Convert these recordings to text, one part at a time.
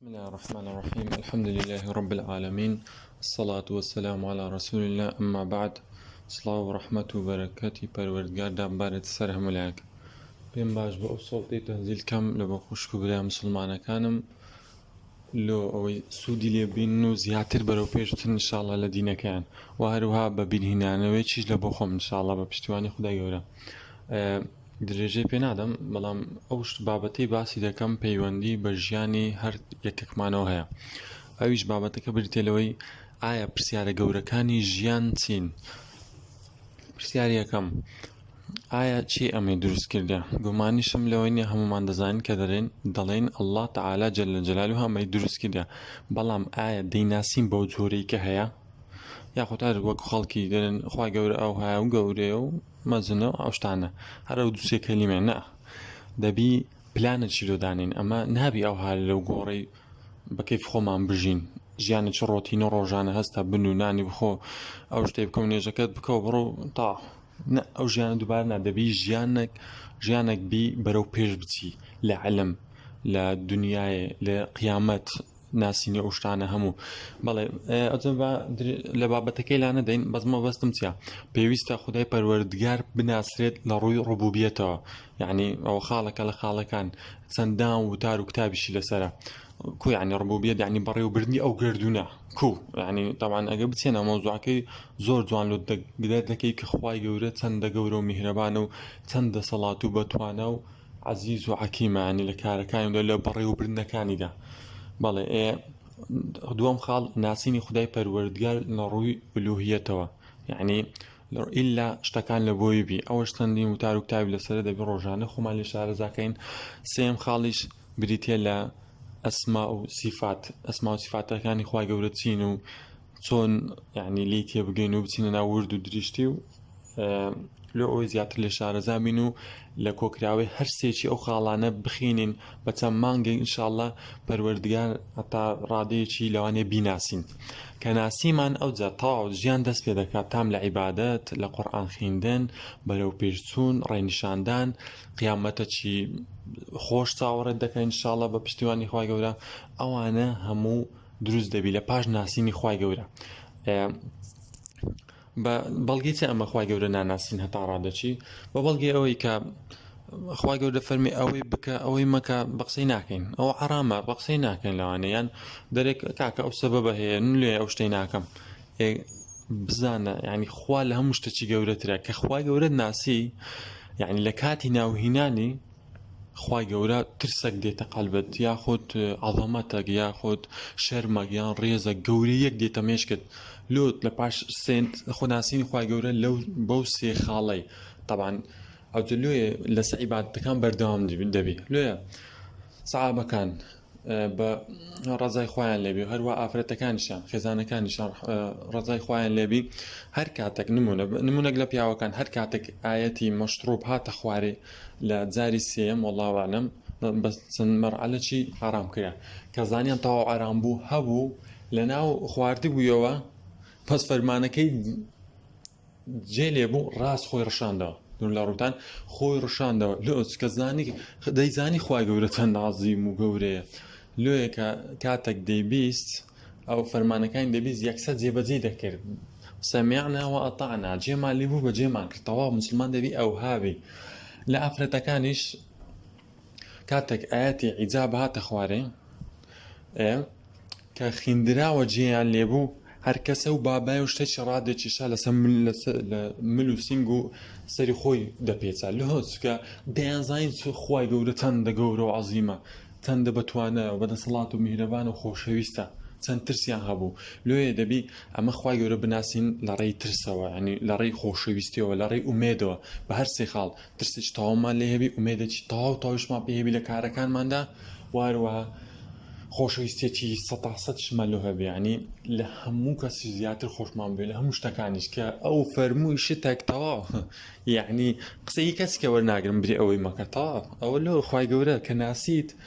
بسم الله الرحمن الرحيم الحمد لله رب العالمين الصلاة والسلام على رسول الله أما بعد سڵاو و ڕەحمەت و بەرەکەتی پەروەردگار دابارێت سەر هەمولایەک پێم باش بە ئەو سەڵتی تەنزیل کەم لە بە خوشک و برای مسلمانەکانم لۆ ئەوەی سوودی لێبین و زیاتر بەرەو پێشتن انشاءاللە لە دینەکەیان و هەروها بە بیرهینانەوەی چیش لە بۆ خۆم انشاءاللە بە پشتیوانی خدای گەورە درێژەی پێ نادەم بەڵام ئەو شت بابەتەی باسی دەکەم پەیوەندی بە ژیانی هەر یەکێکمانەوە هەیە ئەویش بابەتەکە بریتە لەوەی ئایا پرسیارە گەورەکانی ژیان چین پرسیاری یەکەم ئایا چی ئەمەی دروست کردە گومانیشم لەوەی نیە هەمومان دەزانین کە دەرێن دەڵێن ئەلله تعالا جل لە جلال و هەمەی دروست کردە بەڵام ئایا دەیناسین بەو جۆرەی کە هەیە یاخۆتار وەک خەڵکی دەرێن خوا گەورە ئەو هاە و گەورەیە و مەزنە و ئەو شتانە هەر ئەو دوو سێ کەلیمەیە نا دەبی پلانێکی لۆ دانێین ئەمە نابی ئەوها لەو گۆڕەی بە کەیف خۆمان بژین ژیانی چ ڕۆتین و ڕۆژانە هەستە بن و نانی بخۆ ئەو شتێ بکە و نێژەکەت بکە و بڕۆ تا نە ئەو ژیانە دووبار نادەبی ژیانێک ژیانێک بی بەرەو پێش بچی لە عەلم لە دنیاێ لە قیامەت ناسینی ئەو شتانە هەموو بەڵێ ئەجە بە لە بابەتەکەی لا نەدەین بەس مەبەستم چیە پێویستە خدای پەروەردگار بناسرێت لە ڕووی ڕبوبیەتەوە یعنی ئەو خاڵەکە لە خاڵەکان چەندان وتار و کتابیشی لەسرە کویانی ڕبوبیە دانی بەڕێوبردننی ئەو گردونە کو ینی تاوان ئەگە بچێنە مۆزوعەکەی زۆر جوان لە دەگرێت دەکەی کە خخوای گەورە چەندە گەورە و میهرەبانە و چەند دەسەڵات و بەتوانە و عەزیز و عەکیمە یانی لە کارەکانی و لە بەڕێوەبردنەکانیدا بەڵێ ئێ دووەم خاڵ ناسینی خدای پەروەردگار لە ڕووی ئولوهیەتەوە یعنی ئللا شتەکان لە بۆی بی ئەوەش چەندین وتار و کتابی لەسەر دەبی ڕۆژانە خۆمان لێ شارەزاکەین سێم خاڵیش بریتە لە ئەسما و سیفات ئەسما و سیفاتەکانی خوا گەورە چین و چۆن یعنی لی تێبگەین و بچینە ناو ورد و دریشتی و لۆ ئەوەی زیاتر لە شارەزا بین و لە کۆکراوەی هەر سێکی ئەو خاڵانە بخینین بە چەند مانگە ئینشاءله پەروەردگار هەتا ڕادەیەکی لەوانێ بیناسین کە ناسیمان ئەوجا تەواو ژیان دەست پێ دەکات تام لە عیبادەت لە قورآان خوێندن بەرەو پێشچوون ڕێنیشاندان قیامەتەکی خۆش چاوەڕێت دەکەین انشاءله بە پشتیوانی خخوای گەورە ئەوانە هەموو دروست دەبی لە پاش ناسینی خی گەورە بە بەڵگی چ ئەمە خی گەورە ناناسین هەتا ڕادەچی بە بەڵگی ئەوەی کە خی گەورە فەرمی ئەوەی بکە ئەوەی مەکە بە قسەی ناکەین ئەو عرامە بە قسەی ناکەین لەوانەیان دەرێک کاکە ئەو سەبە بە هەیە لێ ئەو شتەی ناکەم بزانە ینی خوا لە هەموو شتەچی گەورەترە کە خخوای گەورە ناسی یعنی لە کاتی ناوهینانی خوای گەورە ترسەک دێتە قەلبت یاخود عەڵەمەتەک یاخود شەرمەک یان ڕێزە گەورەیەک دێتە مێشکت لۆت لە پاش سێنت خۆناسینی خوای گەورە لەو بەو سێ خاڵەی تەبان ئەوتە لێ لەسە عیباتەکان بەردەوام دەبی لێە سەعابەکان بە ڕزای خۆیان لێبی و هەروە ئافرەتەکانیشان خێزانەکانیشان ڕزای خۆیان لێبی هەر کاتێک نمونە نمونەک لە پیاوەکان هەر کاتێک ئاەتی مەشتڕوب هاتە خوارێ لە جاری سێم وڵاوانم بە چەند مەرعەلەکی حرام کرا کە زانیان تاو ئارام بوو هەبوو لە ناو خواردی بوویەوە پس فەرمانەکەی جێ لێبوو ڕاست خۆی ڕشاندەوە دون لە ڕووتان خۆی ڕشاندەوە لۆ کە زانی دەیزانی خی گەورە چەند نازیم و گەورەیە لۆیەکە کاتێک دەیبیست ئەو فەرمانەکانی دەبیست یەکسە جێبەجێ دەکرد سەمیعنا و ئەتانا جێمان لێبوو بە جێمان کرد تەواو مسلمان دەبی ئەو هاوی لە ئافرەتەکانیش کاتێک ئاەتی عیجاب هاتە خوارێ کە خیندراوە جێیان لێبوو هەر کەسە و بابای و شتێکی ڕادێکیشا لەسەر مل و سنگ و سەری خۆی دەپێچە لە هۆچکە دەیانزانین چ خی گەورە چەند دە گەورە و عزیمە چەندە بەتوانە و بەدەسەڵات و میهرەبان و خۆشەویستە چەند ترسیان هەبوو لێ دەبی ئەمە خی گەورە بناسین لە ڕێی ترسەوە ینی لە ڕێی خۆشەویستیەوە لە ڕێی ئومێدەوە بە هەر سێ خاڵ ترسێکی تەواومان لێ هەبی ئومێدێکی تەواو تەواویشمان پێ هەبی لە کارەکانماندا واروەها خۆشەویستێکی سەتا سەدشمان لۆ هەبێ ینی لە هەموو کەسی زیاتر خۆشمان بێ لە هەموو شتەکانیش کە ئەو فەرمووی شتێک تەواو یعنی قسەی کەسکە وەرناگرم بێ ئەوەی مەکە تەواو ئەوە لۆ خی گەورە کە ناسیت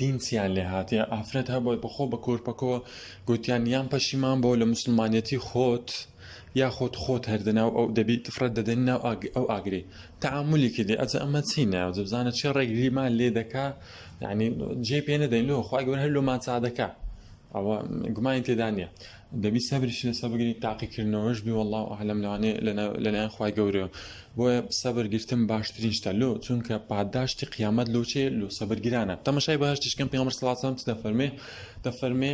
دین چیان لێ هاتێ ئافرەت هەبووە بەخۆ بە کۆرپەکۆ گوتیان یان پەشیمان بۆ لە مسلمانەتی خۆت یا خۆت خۆت هەردەناو ئەو دەبیت فرەت دەدەن ناو ئەو ئاگری تعاملی کردی ئەجە ئەمە چینە بزانە چێ ڕێک لیمان لێ دەکا یعنی جێ پێ نەدەین لۆ خخوای گەور هەر لۆمان چادەکە ئەوە گومانی تێدا نییە دەبی سەبریشی لەسە بگری تاقیکردنەوەش بی والله عالم لەوانێ لەلایەن خخوای گەورە بۆیە سەبر گرتم باشترین شتە لۆ چونکە پاداشتی قیامەت لۆچێ لۆ سەبرگرانە تەمەشای باشتیشکەم پێ سلاسم چ دەفەرمێ دەفەرمێ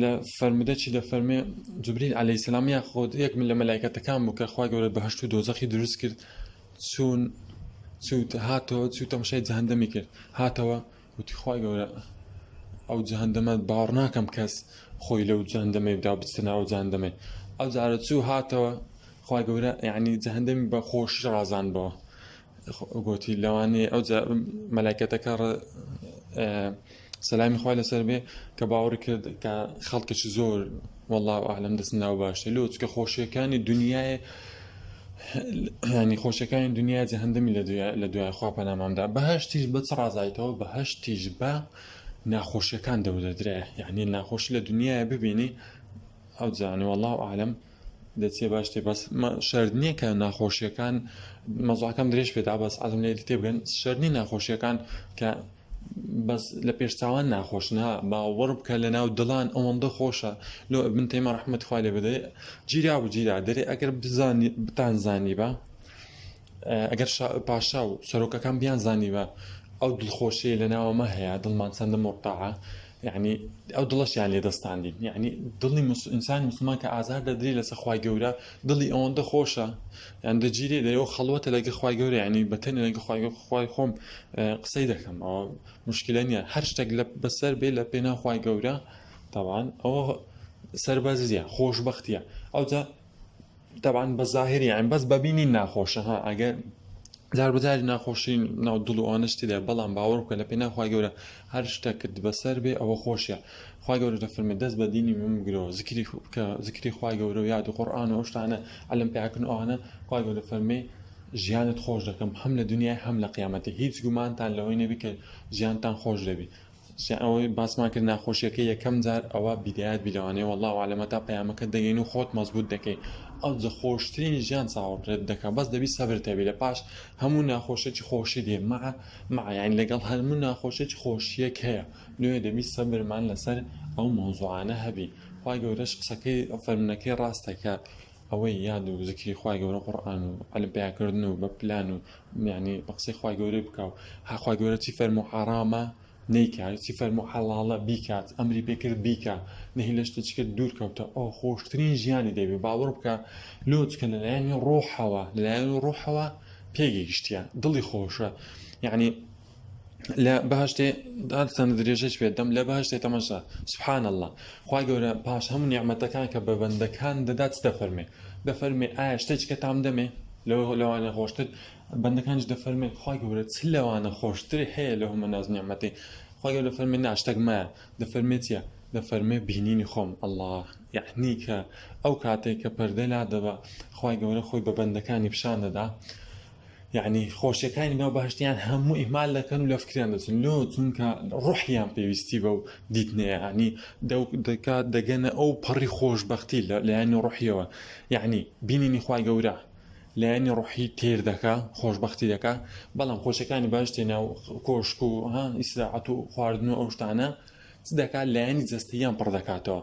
لە فەرمودە چی دەفەرمێ جبریل عليه سلام یا خۆت یەک من لە مەلایکەتەکان بوو کە خخوای گەورە بەهشت و دۆزەخی دروست کرد چوون چوت هاتەوە چوو تەمەشای جاندەمی کرد هاتەوە وتی خوای گەورە ئەو جەهەندەمە باوەڕ ناکەم کەس خۆی لەو جەهەندەمەی بدا و بچتە ناو جەهەندەمەی ئەو جارە چوو هاتەوە خوای گەورە یعنی جەهەندەمی بە خۆشی ڕازان بەوە گوتی لەوانەیە ئەو مەلایکەتەکە سەلامی خوای لەسەر بێ کە باوەڕی کرد کە خەڵکێکی زۆر واللە اعلم دەست ناو باشە لۆ چکە خۆشیەکانی دنیای ینی خۆشەکانی دنیا جەهندەمی لە دوای خوا پەنامامدا بەهشتیش بە چ ڕازایتەوە بەهشتیش بە ناخۆشیەکان دەودەدرێ یعنی ناخۆش لە دنیاە ببینی ئەو جانێ والله عالم دەچێ باشێ بەس شرد نییە کە ناخۆشیەکان مەزاکەم درێژ پێدا بەس ئازم لێ تێبگەن شەرنی ناخۆشیەکان کە بەس لە پێشچاوان ناخۆش نا باوەڕ بکە لە ناو دڵان ئەوەندە خۆشە لۆ من تێمە ڕحمەت خوای لێ بدەێ جیرا و جیرا دەرێ ئەگەر بزانانی بتان زانی بە ئەگەر پاشا و سەرۆکەکان بیان زانی بە ئەو دڵخۆشیە لە ناوەمە هەیە دڵمان چەندە مۆرتاعە یەعنی ئەو دڵەشیان لێ دەستاندین یعنی دڵی ئینسانی مسلمان کە ئازار دەدری لەسە خخوای گەورە دڵی ئەوەندە خۆشە یان دەگیرێ دەەوە خەڵوەتە لەگە خخوای گەورە ینی بەتەنە لەگە خخوای خۆم قسەی دەکەم ئەوە مشکلە نیە هەر شتێک لە بەسەر بێ لە پێناخوای گەورە تاوان ئەوە سەربازیە خۆشببختە ئەوجا تەبان بە زاهری یان بەس بەبینی ناخۆشە ها ئەگەر جار بەجاری ناخۆشی ناو دڵ و ئەوانە شتی دای بەڵام باوەڕ بکە لە پێ ناخوای گەورە هەر شتە کرد بەسەر بێ ئەوە خۆشیە خوا گەورە لە فرمە دەست بە دینی من بگرەوە زکری بکە زکری خوای گەورە و یاد و قڕآن و ئەوشتانە ئەلم پیاکن ئەوانە خوا گەورە فەرمێ ژیانت خۆش دەکەم هەم لە دنیای هەم لە قیامەتی هیچ گومانتان لەوەی نەبی کە ژیانتان خۆش دەبی جا ئەوەی باسمان کرد ناخۆشیەکە یەکەم جار ئەوە بیدایەت بی لەوانەیە والله اعلم هەتا پەیامەکە دەگەین و خۆت مەزبوط دەکەی ئەو جە خۆشترین ژیان چاوەڕێت دەکا بەس دەبی سەبرت هەبی لە پاش هەموو ناخۆشێکی خۆشی دێ مع مع یعنی لەگەڵ هەموو ناخۆشێکی خۆشیەک هەیە لۆیە دەبی سەبرمان لەسەر ئەو مەوزوعانە هەبی خوا گەورەش قسەکەی فەرمنەکەی ڕاستە کە ئەوەی یاد و زکری خوای گەورە قورئان و عەلم پیا کردن و بە پلان و یعنی بە قسەی خوای گەورەی بکا و ها خوای گەورە چی فەرموو حەرامە نیکا چی فەرموو حەڵاڵە بیکات ئەمری پێ کرد بیکا نەهی لە شتێکی کرد دوور کەوتە ئەو خۆشترین ژیانی دەبێ باوەڕ بکە لۆچکە لەلایەنی ڕۆحەوە لەلایەنی ڕۆحەوە پێگەیشتیە دڵی خۆشە یعنی لە بەهشتێ دادتان درێژەش پێدەم لە بەهشتێ تەمەشا سبحان الله خی گەورە پاش هەموو نیعممەتەکان کە بە بەندەکان دەدات دەفەرمێ دەفەرمێ ئایا شتێککە تام دەمێ لەو لەوانە خۆشتر بەندەکانش دەفەرمێ خی گەورە چ لەوانە خۆشتری هەیە لە هەمە ناز نیعممەتی خی گەورە فەرمی ناشتەک مایە دەفەرمێتە دەفەرمێ بینینی خۆم الله یعنی کە ئەو کاتێک کە پەردە لا دەبە خی گەورە خۆی بە بەندەکانی پیشان دەدا یەعنی خۆشیەکانی ناو بەهەشتیان هەموو ئیهمال دەکەن و لە فکریان دەچن لۆ چونکە ڕوحیان پێویستی بەو دیتنەیەهانی دەکات دەگەنە ئەو پەڕی خۆشببختی لە لایەنی ڕوحیەوە یعنی بینینی خی گەورە لایەنی ڕوحی تێر دەکا خۆشببختی دەکا بەڵام خۆشەکانی باشتێ ناو کۆشک و ها ئیسراعەت و خواردن و ئەو شتانە دەکات لایەنی جستەیان پڕ دەکاتەوە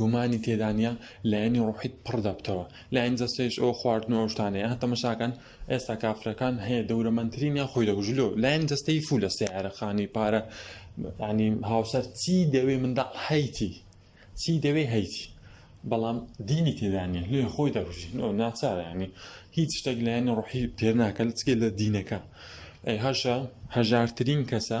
گومانی تێدانە لایەنی ڕوحیت پڕ دەبتەوە لایەن جەستێش ئەو خواردن و ئەوشتانەیە هە تەمەشاکەن ئێستا کافرەکان هەیە دەورەمەندترین یا خۆی دەگوژلو لایەن جەستەی فو لە سیارەخانی پارە ینی هاوسەر چی دەوێ منداڵ هەیتی چی دەوێ هەیتی بەڵام دینی تێدانە لێ خۆی دەگوژی ناچارانی هیچ شتێک لایەنی ڕوحی تێ ناکە لە چگە لە دینەکە هەشە هەژارترین کەسە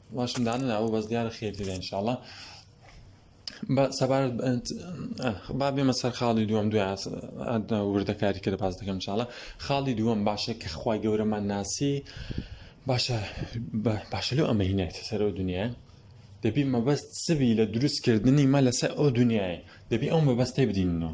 واشم دانەناوە بەس دیارە خێری لە انشاءاللە سەبارەت با بێمە سەر خاڵی دووەم دوای وردەکاری کە لە باز دەکەم چاڵە خاڵی دووەم باشە کە خخوای گەورەمان ناسی باشە باشە لەو ئەمە هینایتە سەر ئەو دنیاە دەبی مەبەست سبی لە دروستکردنی مە لەسەر ئەو دنیاە دەبی ئەو مەبەستەی بدینەوە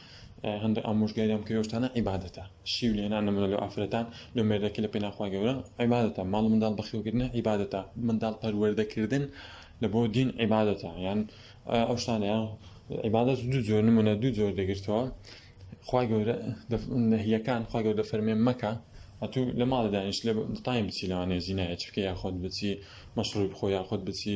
هەندێک ئامۆژگاری ئەم کەوێ شتانە عیبادەتە شیو لێنان نمونە لەو ئافرەتان لەو مێردەکە لە پێناو خوای گەورە عیبادەتە ماڵ و منداڵ بەخێوکردنە عیبادەتە منداڵ پەروەردەکردن لە بۆ دین عیبادەتە یان ئەو شتانەیان عیبادەت دوو جۆر نمونە دوو جۆر دەگرتەوە خوای گەورە نەهیەکان خوای گەورە فەرمێ مەکە ئەتوو لە ماڵی دانیش لە تایم بچی لەوانەیە زینایە چکە یاخۆت بچی مەشڕوی بخۆ یاخۆت بچی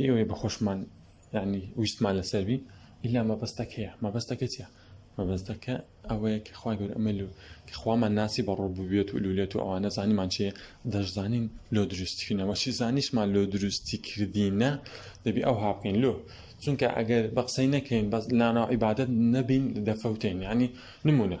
ئێوەی بە خۆشمان یعنی ویستمان لەسەر بی ئیلا مەبەستەک هەیە مەبەستەکە چیە مەبەستەکە ئەوەیە کە خخوای گەور ئەمە لو کە خوامان ناسی بە ڕۆ ببێت و لولێت و ئەوانە زانیمان چێ دەشزانین لۆ دروستکردنەوە چی زانیشمان لۆ دروستی کردینە دەبی ئەو هاپین لۆ چونکە ئەگەر بە قسەی نەکەین بەس لاناو عیبادت نەبین دەفەوتین ینی نمونە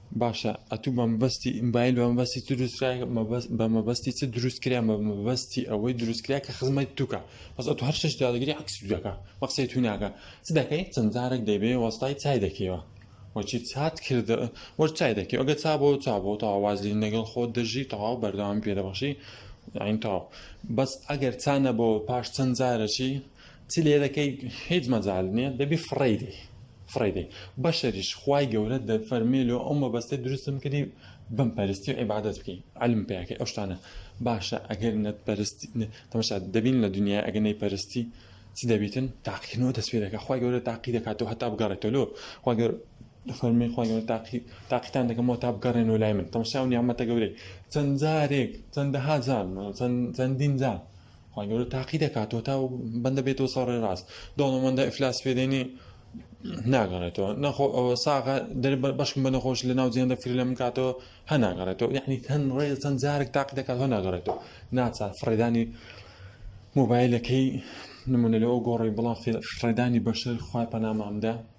باشە ئەتوو بە مەبەستی ئیمبایل بە مەبەستی چ دروستکرا بە مەبەستی چ دروستکرا بە مەبەستی ئەوەی دروستکرا کە خزمەت توکە بەس ئەتو هەر شش دادگری عکس دەکە بە قسەی تو ناکە چ دەکەی چەند جارێک دەیبێ وەستای چای دەکەیەوە وەچی چات کرد وەر چای دەکەی ئەگە چا بۆ چا بۆ تا واز لێ نەگەڵ خۆت دەژی تەواو بەردەوام پێ دەبەشی عین تاو بەس ئەگەر چانە بۆ پاش چەند جارەکی چ لێدەکەی هیچ مەجال نیە دەبی فڕێدەی فڕێدەی بەشەریش خوای گەورە دەفەرمێ لۆ ئەو مەبەستێ دروستم کردی بم پەرستی و عیبادەت بکەین علم پێکەی ئەو شتانە باشە ئەگەر نەت پەرستی تەمەشا دەبین لە دنیای ئەگەر نەی پەرستی چ دەبیتن تاقیکردنەوە دەست پێ دەکات خخوای گەورە تاقی دەکاتەوە هەتا بگەڕێتەوە لۆ خواگەر فەرمی خخوای گەورە تاقی تاقیتان دەکەمەوە تا بگەڕێنەوە لای من تەمەشاو نیامەتە گەورەی چەند جارێک چەندەها جار چەندین جار خوای گەورە تاقی دەکات تۆ تا بەندە بێتەوە سەر ڕێ ڕاست دەوڵەمەندە ئیفلاس پێدێنی ناگەڕێتەوە نەخۆ ئەوە ساغە دەر بەشم بە نەخۆش لە ناو جیێندە فری لە منکاتەوە هە ناگەڕێتەوە یعنی هەن ڕێ چەند جارێک تاقی دەکات هە ناگەڕێتەوە ناچار فڕێدانی مۆبایلەکەی نمونە لەەوە گۆڕی بڵام فڕێدانی بەشەر خخوای پەنامامدا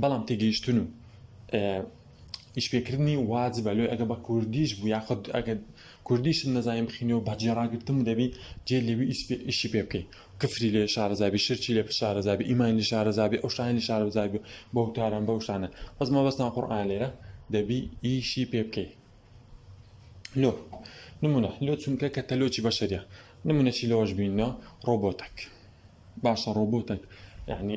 بەڵام تێگەیشتن و ئیشپێکردنی واجبە لۆی ئەگە بە کوردیش بوو یاخود ئەگە کوردیش نەزانین بخینی و بەجێڕاگرتن دەبی جێ لەوی ئیشی پێ بکەیت کفری لێ شارەزابی شرچی لێ شارەزابی ئیمانی شارەزابی ئەو شتانی شارەزابی بە وتاران بە شتانە بەس مەبەستان قڕان لێرە دەبی ئیشی پێ بکەیت لۆ نمونە لۆ چونکە کە تەلۆکی بەشەریە نمونەشی لەوەش بینەوە ڕۆبۆتەک باشە ڕۆبۆتەک یعنی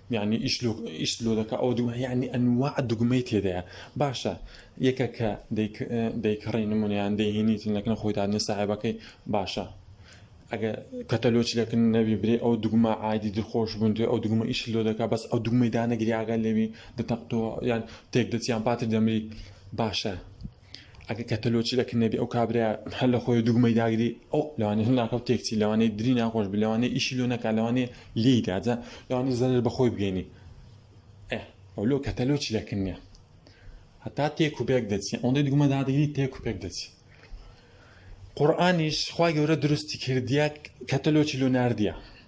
یانی ئیش لۆ ئیش لۆ دەکا ئەو دوو یانی ئەنواع دوگمەی تێدایە باشە یەکە کە دەیکڕی نمونیان دەهێنیت لەکنە خۆی دادنە ساحبەکەی باشە ئەگە کەتەلۆچ لەکن نەبی برێ ئەو دوگمە عادی دخۆش بوون توێ ئەو دوگمە ئیش لۆ دەکا بەس ئەو دوگمەی دانەگریاگە لەوی دەتەقتەوە یان تێک دەچیان پاتر دەمری باشە ئەگە کەتەلۆچی لە کنەبی ئەو کابرا هەر لە خۆی دوگمەی داگری ئەو لەوانی هەر ناکەوت تێکچی لەوانەی دری ناخۆش بی لەوانەی ئیشی لۆ نەکە لەوانێ لی داجە لەوانی زەرر بەخۆی بگەینی ئەو لۆ کەتەلۆچی لە کنێ هەتا تێک و پێک دەچی ئەوەندەی دوگمە دادگری تێک و پێک دەچی قورآانیش خی گەورە درستی کردیە کەتەلۆچی لۆ نردە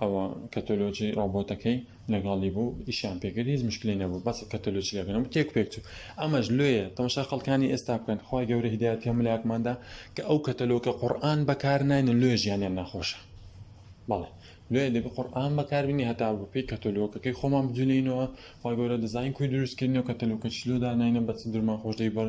ئەوە کەتۆلۆجی ڕۆبۆتەکەی لەگەڵی بوو ئیشیان پێکرد هیچ مشکلی نەبوو بەس کەتۆلۆجی لەگەنەوە تێک پێک چوو ئەمەش لێیە تەمەشا خەڵکانی ئێستا بکەن خخوای گەورە هدایەت هەم لایەکماندا کە ئەو کەتەلۆکە قورآن بەکار ناینە لێ ژیانیان ناخۆشە بەڵێ لێ دەبێ قورآن بەکاربینی هەتا بەپی کەتەلۆکەکەی خۆمان بجوولینەوە خخوای گەورە دەزانین کوی دروستکردنەوە کەتەلۆکە چلۆدا نینە بەچ درمان خۆشدەی بەر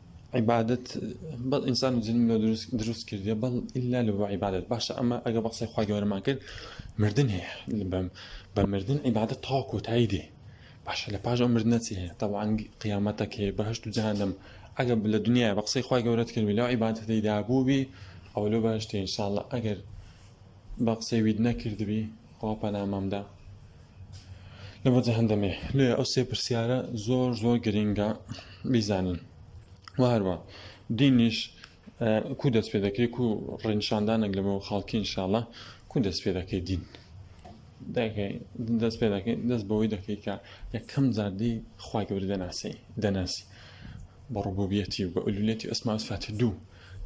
عیبادەت بەڵ ئینسان و جنم لە دروست دروست کردێ بەڵ ئللا لە بۆ عیبادەت باشە ئەمە ئەگە بەقسەی خوا گەورەمان کرد مردن هەیە بەم بە مردن عیبادە تا کۆتایی دێ باشە لە پاش ئەو مردنە چی هەیە تاوان قیامەتەک هەیە بەهشت و جانم ئەگە لە دنیا بە قسەی خوا گەورەت کردی لەو عیباەتەیدا بووبی ئەو لۆ باشتە انشاءله ئەگەر بە قسەی وید نەکردبی خوا پەنامم دا لە بۆ جەهەندەمێ لێ ئەو سێ پرسیارە زۆر زۆر گرنگە بیزانین و هەروە دینیش کو دەست پێ دەکرێت و ڕێنشاندانێک لە بۆ خەڵکی انشاءڵە کو دەست پێ دەکەی دین دەکەی دەست پێ دەکەی دەست بەوەی دەکەی کە یەکەم جاردی خخوای گەوری دەناسی دەناسی بە ڕبوبیەتی و بە ئولولێتی ئەسماس فاتی دوو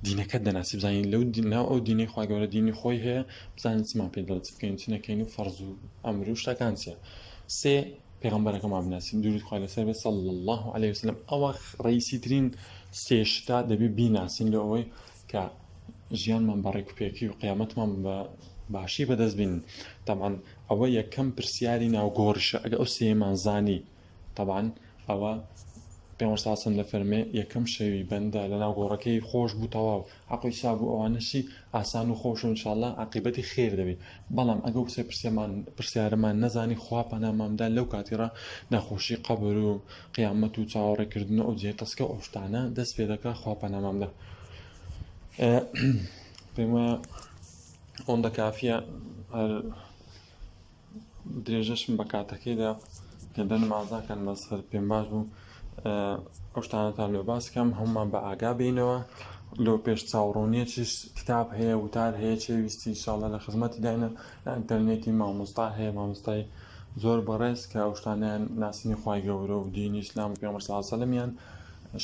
دینەکەت دەناسی بزانین لەو ناو ئەو دینەی خوا گەورە دینی خۆی هەیە بزانین چمان پێ دەڵێت بکەین چ نەکەین و فەرز و ئەمر و شتەکان چیە سێ پێغمبەرەکەمان بناسین درود خوا لەسەر بێت صلی الله عليه وسلم ئەوە ڕئیسی ترین سێ شتا دەبێ بیناسین لە ئەوەی کە ژیانمان بە ڕێکوپێکی و قیامەتمان بە باشی بەدەست بین تامان ئەوە یەکەم پرسیاری ناوگۆڕیشە ئەگە ئەو سێمان زانی تەبعەن ئەوە پێغەمبەر صلی اللە علیە و سلم دەفەرمێ یەکەم شەوی بەندە لەناو گۆڕەکەی خۆش بوو تەواو عەقڵی سا بوو ئەوانەشی ئاسان و خۆش و انشاءاللە عاقبەتی خێر دەبی بەڵام ئەگەر وسێ پرسیەمان پرسیارەمان نەزانی خوا پەنامامدا لەو کاتیڕا ناخۆشی قەبر و قیامەت و چاوەڕێکردن و ئەو جێ تەسکە و ئەو شتانە دەست پێ دەکا خوا پەنامامدا پێم وایە ئەوەندە کافیە هەر درێژەشم بە کاتەکەیدا کە دەنمازاکەن بەسەر پێم باش بوو ئەو شتانەتان لێ باسکەم هەمومان بە ئاگا بینەوە لەو پێش چاوڕۆنیە چش کتاب هەیە وتار هەیە چێ ویستی شاڵە لە خزمەتی داینە ئەتەرنێتی مامۆستا هەیە مامۆستای زۆر بەڕێز کە ئەو شتانیان ناسینی خی گەورە و دینی ئسلام و پێمەساسەلمیان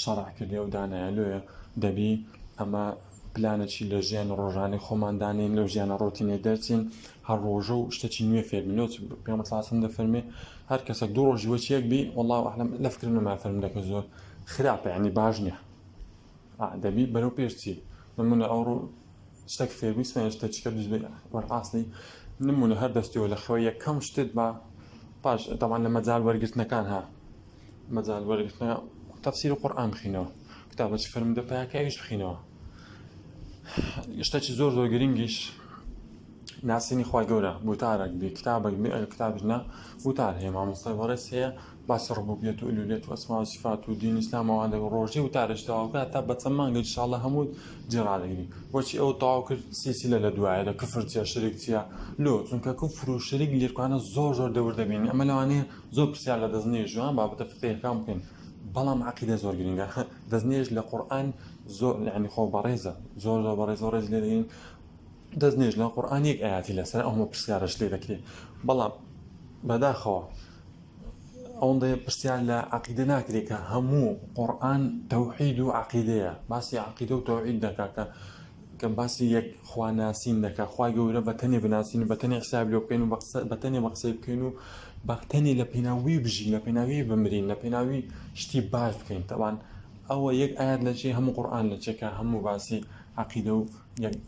شەڕع کردێ و دانایە لێە دەبی ئەمە پلانە چین لە ژیانە ڕۆژانەی خۆمان دانێن لەو ژیانە ڕۆتینێ دەرچین هەر ڕۆژە و شتەچی نوێ فێربینەوە پێمە ساسم دەفەرمێ هەر کەسێک دوو ڕۆژی وە چێک بی وڵا ئەحلم لە فکرم نەما فەرم دەکە زۆر خراپە ینی باش نییە دەبی بەرەو پێشچی نمونە ئەو ڕوو شتێک فێربیسمێن شتە چکە دوز وەرقاستی نمونە هەر دەستیەوە لە خەوە یەکەم شتت بە پاش دەمان لە مەجار وەرگرتنەکان ها مەجال وەرگرتنە تەفسیری قورئان بخینەوە کتابە چ فەرمودە پاکە ئەویش بخینەوە شتێکی زۆر زۆر گرنگیش ناسینی خی گەورە بوتارێک بێ کتابێک بێ ئەگە کتابژنا بوتار هەیە مامۆستای بەڕێز هەیە باسی ڕبوبیێت و ئولولێت وەسما و سفات و دین ئسلامەوە لە ڕۆژی و تارشتەواکە تا بەچەند مانگە شاڵە هەموو جێڕادەگری بۆچی ئەو تاو کرد سیسیلە لە دوایە لە کفر چیە شرێک چیە لۆ چونکە کفر و شریک لێکوانە زۆر زۆر دەور دەبین ئەمە لەوانەیە زۆر پرسیار لە دەستنوێژ و بابەتە فقهیەکان بکەین بەڵام عقیدە زۆر گرنگە دەستنوێژ لە قورآن زۆر یعنی خۆ بەڕێزە زۆر زۆر بەڕێز زۆر ڕێز لێ دەین دەستنوێژ لە قورآن یەک ئاياتی لەسەر ئەومە پرسیارش لێ دەکرێت بەڵام بەداخەوە ئەوەندە پرسیار لە عقیدە ناکرێت کە هەموو قورآن تەوحید و عقیدەیە باسی عقیدە و تەوحید دەکا کە کە باسی یەک خوا ناسین دەکا خوای گەورە بە تەنێ بناسین و بە تەنێ حساب لێ بکەین و بە تەنێ بە قسەی بکەین و بە تەنێ لە پێناوی بژین لە پێناوی بمرین لە پێناوی شتی باش بکەین تەوان ئەوە یەک ئاات لە چێ هەموو قورآان لە چێکە هەموو باسی عقیدە و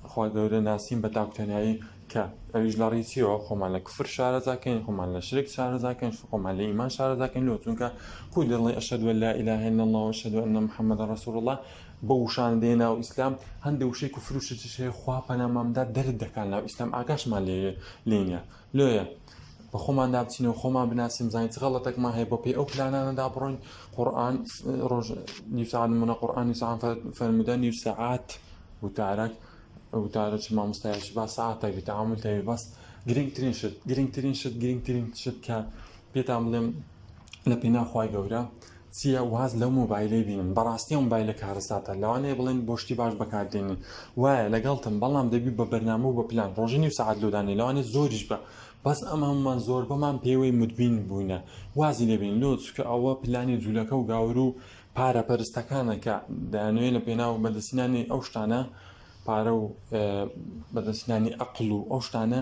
خوا گەورە ناسین بە تاکتەنایی کە ئەویش لە ڕیچیەوە خۆمان لە کفر شارەزاکەین خۆمان لە شرێک شارەزاکەین خۆمان لە ئیمان شارەزاکەین لۆ چونکە کوی دەڵێ ئەشەدووە لا ئیلاهێن نەڵەوە شەدووە نە محەممەدە ڕسوور الله بەو وشانە دێنە ناو ئیسلام هەندێ وشەی کوفر و شرکیش هەیە خوا پەنامان بدات دەرت دەکات لە ئیسلام ئاگاشمان لێ لێ نیە لۆیە بە خۆماندا بچین و خۆمان بناسین بزانین چ غەڵەتێکمان هەیە بۆ پێی ئەو پلانانەدا بڕۆین قورئان ڕۆژ نیو سەعات نمونە قورئان نیو سەعات فەرموودە نیو سەعات وتارەک وتارە چ مامۆستایەکی با سەعاتێک بێت تەعامول تەوێ بەس گرنگترین شت گرنگترین شت گرنگترین شت کە پێتان بڵێم لە پێناو خوای گەورە چیە واز لەو مۆبایلەی بینن بەڕاستی ئەو مۆبایلە کارەساتە لەوانەیە بڵێن بۆ شتی باش بەکاردێنی وایە لەگەڵتم بەڵام دەبی بە بەرنامە و بە پلان ڕۆژی نیو سەعات لۆدانێ لەوانێ زۆریش بە بەس ئەم هەمومان زۆر بەمان پێوەی مدبین بووینە وازی لێبین لۆ چکە ئەوە پلانی جوولەکە و گاور و پارە پەرستەکانە کە دەیانوێ لە پێناو بەدەسینانی ئەو شتانە پارە و بەدەستنانی ئەقل و ئەو شتانە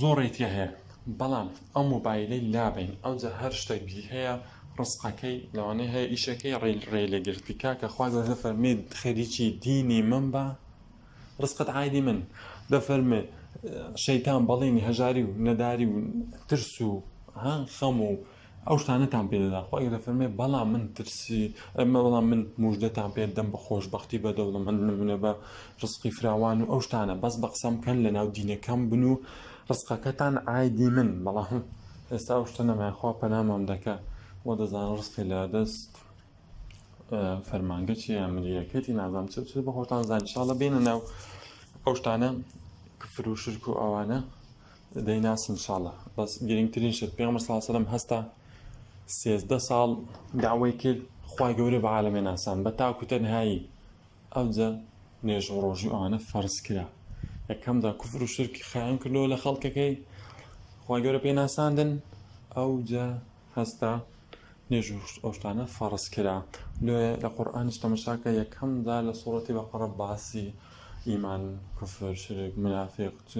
زۆڕی تیا هەیە بەڵام ئەو مۆبایلەی لابەین ئەوجا هەر شتێک بی هەیە ڕسقەکەی لەوانەیە هەیە ئیشەکەی ڕێل ڕێ لێ گرتی کاکە خوا گەورە دەفەرمێت خەریکی دینی من بە ڕسقەت عادی من دەفەرمێ شەیتان بەڵێنی هەژاری و نەداری و ترس و ها خەم و ئەو شتانەتان پێ دەدا خۆ ئەگەر دەفەرمێ بەڵام من ترسی ئەمە بەڵام من مژدەتان پێ دەم بە خۆشببختی بە دەوڵەمەند نمونە بە ڕسقی فراوان و ئەو شتانە بەس بە قسە بکەن لە ناو دینەکەم بن و ڕسقەکەتان ئایدی من بەڵام ئێستا ئەو شتە نەمایخوا پەنامام دەکە وە دەزانە ڕسقی لە دەست فەرمانگە چی ئەمریەکەتی نازانام چ چ بە خۆتان زانشاڵە بێنە ناو ئەو شتانە کفر و شرک و ئەوانە دەیناسی ان شاء اللە بەس گرینگترین شت پێغەمبەر صلی اللە علیه و سلم هەستا سێزدە ساڵ داوای کرد خوای گەورە بە عالەمێ ناسان بە تاکو تەنهایی ئەوجە نوێژ و ڕۆژی و ئەوانە فەرز کرا یەکەمدا کوفر و شرکی خایەن کردەوە لە خەڵکەکەی خوای گەورە پێ ناساندن ئەوجە هەستا نوێژ و ئەو شتانە فەڕز کرا لۆیە لە قورئانیش تەمەشا کە یەکەم جار لە سوڕەتی بەقەڕە باسی ئیمان کوفر شرک منافق چ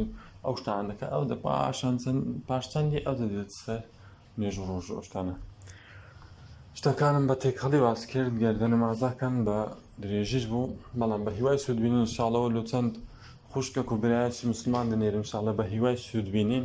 ئەو شتان دەکە ئەو دە پاشان چەند پاش چەندی ئەو دەدێت سەر نوێژ و ڕۆژ ئەو شتانە شتەکانم بە تێکەڵی باس کرد گەردە نمازاکان بە درێژیش بوو بەڵام بە هیوای سوودبینین شاڵەوە لۆ چەند خوشکە و برایەکی مسلمان دەنێرم شاڵە بە هیوای سوودبینین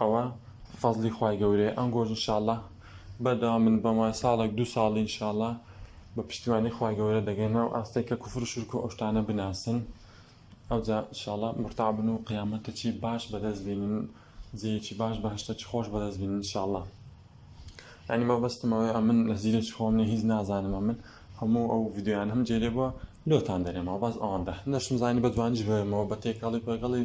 ئەوە فەزڵی خوای گەورەیە ئەنگۆش ان شاءاللە بەردەوام بن بەم وایە ساڵێک دوو ساڵی ان شاءاللە بە پشتیوانی خوای گەورە دەگەنە ئەو ئاستەی کە کوفر و شرک و ئەو شتانە بناسن ئەوجا ان شاءاللە مورتاع بن و قیامەتەچی باش بەدەست بینن جێیەکی باش بەهەشتەکی خۆش بەدەست بینن ان شاءاللە یعنی مەبەستم ئەوەیە ئەمن لە زیرەکی خۆم نیە هیچ نازانم ئەمن هەموو ئەو ڤیدیۆیان هەم جێلێ بووە لۆتان دەرێمەوە بەس ئەوەندە نەشم زانی بە جوانیش بێمەوە بە تێکەڵی پێکەڵی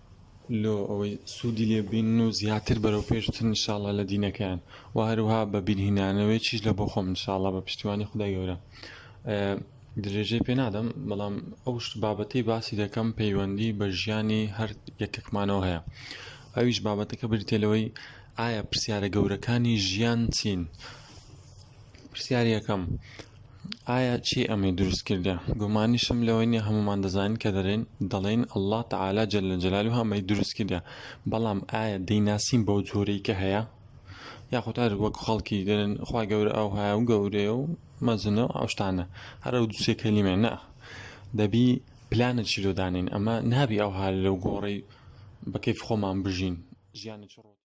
لۆ ئەوەی سودی لێ ببینن و زیاتر بەرەو پێش بچن ان شاء اللە لە دینەکەیان و هەروها بە بیرهینانەوەیەکیش لە بۆ خۆم ان شاء اللە بە پشتیوانی خودای گەورە درێژەی پێ نادەم بەڵام ئەو شت بابەتەی باسی دەکەم پەیوەندی بە ژیانی هەر یەکەکمانەوە هەیە ئەویش بابەتەکە بریتێ لەوەی ئایا پرسیارە گەورەکانی ژیان چین پرسیار یەکەم ئایا چی ئەمەی دروست کردە گومانیشم لەوەی نیە هەمومان دەزانین کە دەرێن دەڵێن اللە تعالی جل جلاله ئەمەی دروست کردە بەڵام ئایا دەیناسین بەو جۆرەی کە هەیە یاخود هەر وەک خەڵکی دەرن خوا گەورە ئەو هاە و گەورەیە و مەزنە و ئەوشتانە هەرە و دوسێ کەلیمێ نە دەبی پلانە چیرۆدانین ئەمە نابی ئەو هاە لەو گۆڕی بەکەیف خۆمان بژین ژیانی چڕۆ